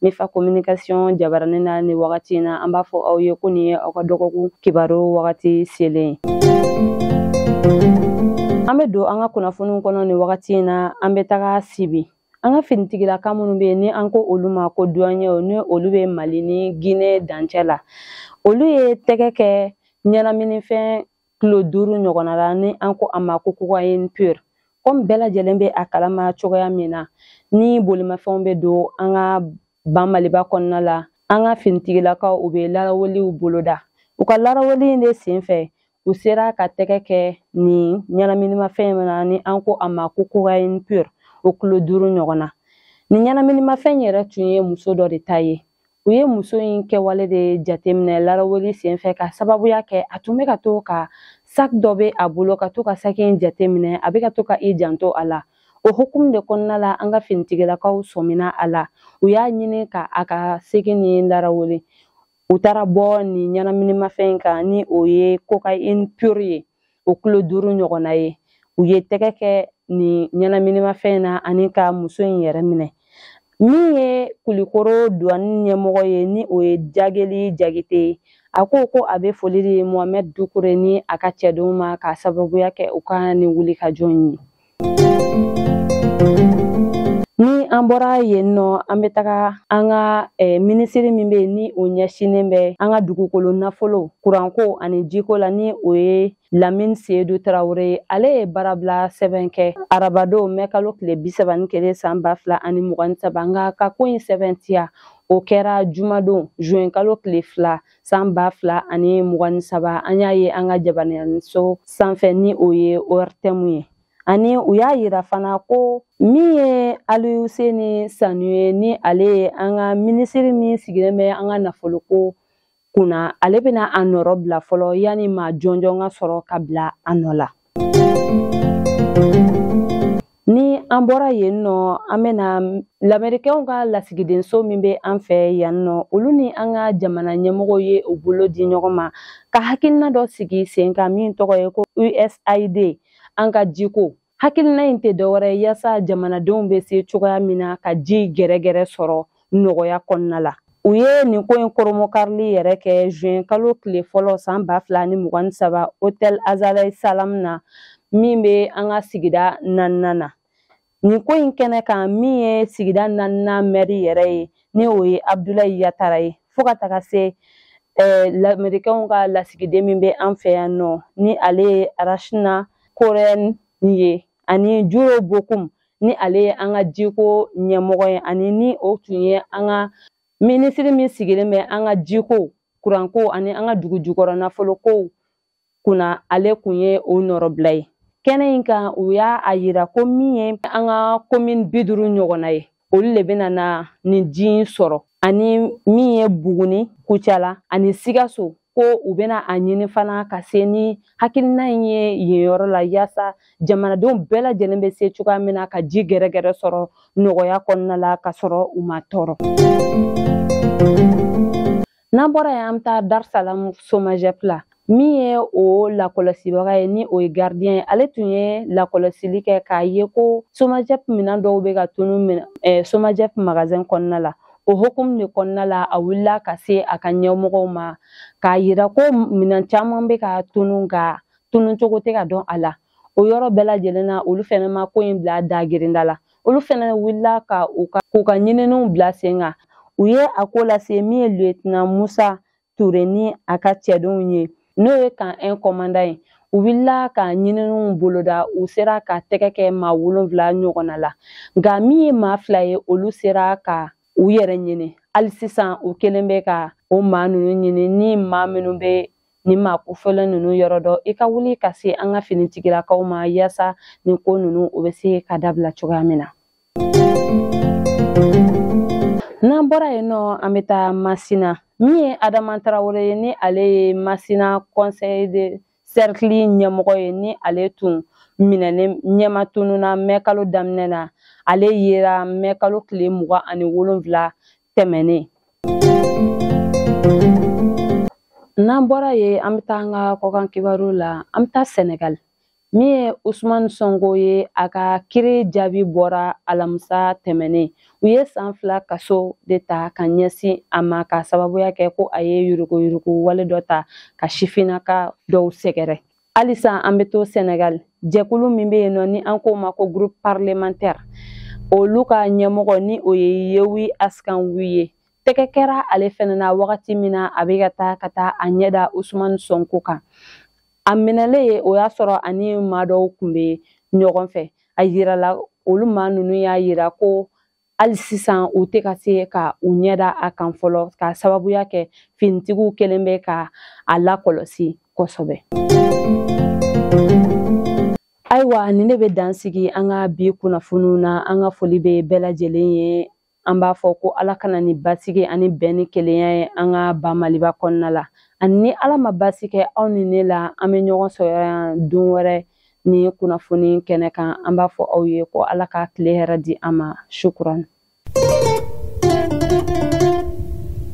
ne fa communication jabaranin na ni wagati in na an b'a fɔ aw ye ko nin ye aw ka dɔgɔkun kibaru wagati selen an bɛ don an ka kunnafoniw kɔnɔ nin wagati in na an bɛ taga sibi an ka finitigilaka minnu bɛ yen ni an ko olu ma ko duwanyew ni olu bɛ mali ni gine dancɛ la olu ye tɛgɛ kɛ ɲɛnaminifɛn kilo duuru ɲɔgɔnna la ni an ko a ma ko cocaïne pure komi bɛɛ lajɛlen bɛ a kalama cogoya min na ni bolimafɛnw bɛ don an ka ban maliba kɔnɔna la an ka finitigilakaw u bɛ laraweliw boloda u ka laraweli in de sen fɛ u sera ka tɛgɛ kɛ nin ɲɛnaminimafɛn in na ni an ko a ma ko cocaïne pure o kilo duuru ɲɔgɔnna nin ɲɛnaminimafɛn yɛrɛ tun ye muso dɔ de ta ye u ye muso in kɛwale de jateminɛ laraweli senfɛ k'a sababuya kɛ a tun bɛ ka to ka saki dɔ bɛ a bolo ka to ka saki in jateminɛ a bɛ ka to ka i janto a la o hukumu de kɔnɔna la an ka finitigilakaw sɔmina a la u y'a ɲini ka a ka saki nin laraweli u taara bɔ nin ɲɛnaminimafɛn in kan ni o ye cocaïne pure ye o kilo duuru ɲɔgɔnna ye u ye tɛgɛ kɛ nin ɲɛnaminimafɛn in na ani ka muso in yɛrɛ minɛ min ye kulikoro duwani ɲɛmɔgɔ ye ni o ye jageli jagite ye a ko ko a bɛ foli di mohamɛd dukure ni a ka cɛdenw ma k'a sababuya kɛ u ka nin wulikajɔ in ye Ni an bɔra yen nɔ an bɛ taga an ka eh, minisiri min bɛ yen ni o ɲɛsinnen bɛ an ka dugukolo nafolo kuranko ani jiko la ni o ye lamini seyidu tarawele ye ale ye baarabila sɛbɛn kɛ arabadon mɛ kalo tile bi saba ni kelen san ba fila ani mugan ni saba nka ka ko in sɛbɛntiya o kɛra jumadon zuwɛnkalo tile fila san ba fila ani mugan ni saba an y'a ye an ka jabaraninso sanfɛ ni o ye ORTM ye ani u y'a yira fana ko min ye aluseni sanu ye ni ale ye an ka minisiri min sigilen bɛ an ka nafoloko kunna ale bɛna a nɔrɔ bila fɔlɔ yanni maa jɔnjɔn ka sɔrɔ ka bila a nɔ la ni an bɔra yen nɔ an bɛna lamerikɛnw ka lasigidenso min bɛ an fɛ yan nɔ olu ni an ka jamana ɲɛmɔgɔw ye u bolo di ɲɔgɔn ma ka hakilina dɔ sigi sen kan min tɔgɔ ye ko usaid an ka jiko hakilina in tɛ dɔwɛrɛ ye yaasa jamanadenw bɛ se cogoya min na ka ji gɛrɛgɛrɛ sɔrɔ nɔgɔya kɔnɔna la u ye nin ko in koromokarili yɛrɛ kɛ juin kalo tile fɔlɔ san ba fila ni mugan ni saba hotel azalai salam na min bɛ an ka sigida naaninan na nin ko in kɛnɛ kan min ye sigida naaninan mɛri yɛrɛ ye ni o ye abdulayi yatara ye fo ka taga se eh, lamerikɛnw ka lasigiden min bɛ an fɛ yan nɔ ni ale ye rachna korhonen ye ani juro bokum ni ale ye an ka jiko ɲɛmɔgɔ ye ani ni o tun ye an ka minisiri min sigilen bɛ an ka jiko kuranko ani an ka dugu jukɔrɔ nafolokow kunna ale kun ye o nɔrɔbila ye kɛnɛ in kan u y'a a yira ko min ye an ka komini bi duuru ɲɔgɔnna ye olu le bɛna na nin ji in sɔrɔ ani min ye buguni kucala ani sikaso ko u bɛna a ɲini fana ka se ni hakilina in ye yen yɔrɔ la yaasa jamanadenw bɛɛ lajɛlen bɛ se cogoya min na ka ji gɛrɛgɛrɛ sɔrɔ nɔgɔya kɔnɔna la ka sɔrɔ u ma tɔɔrɔ n'an bɔra yen an bɛ taa darisalamu somajɛp la min ye o lakɔlɔsibaga ye ni o ye gardiyɛn ye ale tun ye lakɔlɔsili kɛ k'a ye ko somajɛp minɛn dɔw bɛ ka tunu somajɛp magazɛn kɔnɔna la o hukumu de kɔnɔna la a wulila ka se a ka ɲɛmɔgɔw ma k'a yira ko minɛn caman bɛ ka tunu nka tunu cogo tɛ ka dɔn a la o yɔrɔ bɛɛ lajɛlen na olu fɛnɛ ma ko in bila dagerinda la olu fɛnɛ wulila ka k'u ka ɲininiw bila sen kan u ye a ko lase min ye lieutenant musa ture ni a ka cɛdenw ye n'o ye kan ɛn kɔmanda ye u wulila ka ɲininiw boloda u sera ka tɛgɛ kɛ maa wolonfila ɲɔgɔnna la nka min ye maa fila ye olu sera ka u yɛrɛ ɲini hali sisan u kɛlen bɛ ka o maa ninnu ɲini ni maa minnu bɛ nin maa kofɔlen ninnu yɔrɔ dɔn i ka wuli ka se an ka finitigilakaw ma yaasa nin ko ninnu o bɛ se ka dabila cogoya min na n'an bɔra yen nɔ an bɛ taa masina min ye adama tarawele ye ni ale ye masina conseil de cercle ɲɛmɔgɔ ye ni ale tun minɛlen ɲɛma tununa mɛkalo daminɛ na ale yera mɛkalo tile mugan ani wolonfila tɛmɛnen n'an bɔra yen an bɛ taa an ka kɔkan kibaru la an bɛ taa sɛnɛgali min ye usumani sɔnko ye a ka kiri jaabi bɔra alamisa tɛmɛnen u ye san fila kaso de ta ka ɲɛsin a ma ka sababuya kɛ ko a ye yuruguyurugu wale dɔ ta ka sifinnaka dɔw sɛgɛrɛ halisa an bɛ to sɛnɛgal jɛkulu min bɛ yen nɔ ni an k'o ma ko groupe parlementaire olu ka ɲɛmɔgɔ ni o ye yewi askan wi ye tɛgɛ kɛra ale fɛnɛ na wagati min na a bɛ ka taa ka taa a ɲɛda usumani sɔnko kan a minɛlen ye o y'a sɔrɔ ani maa dɔw kun bɛ ɲɔgɔn fɛ a yirala olu maa ninnu y'a yira ko hali sisan u tɛ ka se ka u ɲɛda a kan fɔlɔ k'a sababuya kɛ finitigiw kɛlen bɛ ka a lakɔlɔsi kosɛbɛ. ayiwa nin ne bɛ dan sigi an ka bi kunnafoniw na an ka foli bɛ bɛɛ lajɛlen ye an b'a fɔ ko ala ka na ni basigi ani bɛn ni kelenya ye an ka ba maliba kɔnɔna la ani ni ala ma basi kɛ aw ni ne la an bɛ ɲɔgɔn sɔrɔ yan don wɛrɛ ni kunnafoni kɛnɛ kan an b'a fɔ aw ye ko ala ka tile hɛrɛ di an ma shukran